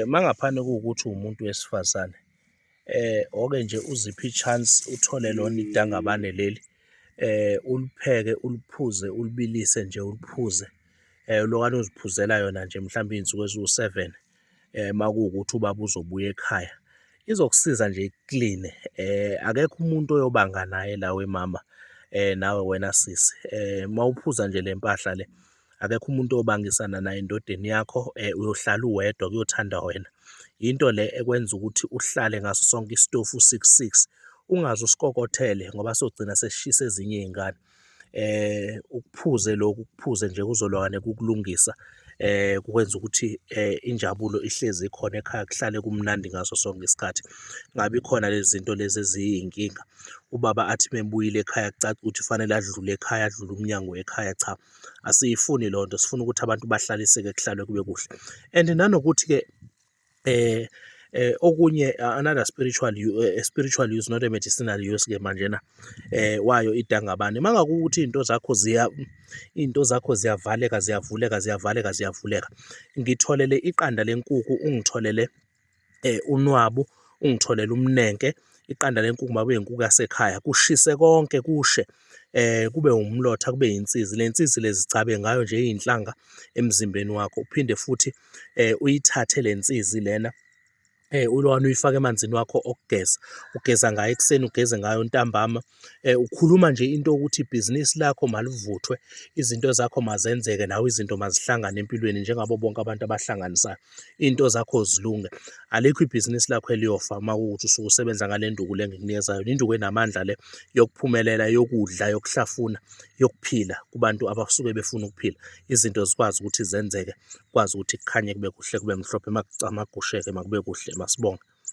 Uma ngaphana kuwukuthi uwumuntu wesifazane oke nje uziphe i-chance uthole lona idangabane leli ulipheke, uliphuze, ulibilise nje uliphuze ulokwane uziphuzela yona nje mhlawumbe iy'nsuku eziwu-seven uma kuwukuthi ubaba uzobuya ekhaya. Izokusiza nje ikukline, akekho umuntu oyobanga naye la wemama nawe wena sisi uma uphuza nje le mpahla le. akekho umuntu obangisana naye endodeni yakho um uyohlala uwedwa kuyothanda wena yinto le ekwenza ukuthi uhlale ngaso sonke isitofu six six ungaze usikokothele ngoba sogcina sesishisa ezinye iy'ngane eh ukuphuze lokhu kuphuze nje kuzolwane kukulungisa eh kukwenza ukuthi eh injabulo ihlezi ikhona ekhaya kuhlale kumnandi ngaso sonke isikhathi ngabe khona lezi zinto lezi eziyinkinga ubaba athi mebuyile ekhaya kucaca ukuthi fanele adlule ekhaya adlule umnyango ekhaya cha asiyifuni loo nto sifuna ukuthi abantu bahlaliseke kuhlalwe kube kuhle and nanokuthi-ke um eh okunye another spiritual eh, spiritual use not a medicinal use ke manje na eh wayo idangabane mangakuthi into zakho ziya into zakho ziyavaleka ziyavuleka ziyavaleka ziyavuleka ngitholele iqanda lenkuku ungitholele eh, unwabu ungitholele umnenke iqanda lenkukhu mabe inkukhu yasekhaya kushise konke kushe eh kube umlotha kube insizi lensizi lezicabe ngayo nje izinhlanga emzimbeni wakho uphinde futhi eh uyithathe lensizi lena eh ulwana uyifaka emanzini wakho okugeza ugeza ngayo ekuseni ugeze ngayo ntambama Eh, ukhuluma nje into yokuthi ibhizinisi lakho malivuthwe, izinto zakho mazenzeke, nawe izinto mazihlangane empilweni njengabo bonke abantu abahlanganisayo. Iy'nto zakho zilunge. Alikho ibhizinisi lakho eliyofa uma kuwukuthi usuke usebenza ngale nduku le engikunikeza yona. Induku enamandla le yokuphumelela, yokudla, yokuhlafuna, yokuphila kubantu abasuke befuna ukuphila. Izinto zikwazi ukuthi zenzeke, kukwazi ukuthi kukhanye kube kuhle, kube mhlophe, makugusheke makube kuhle, masibonge.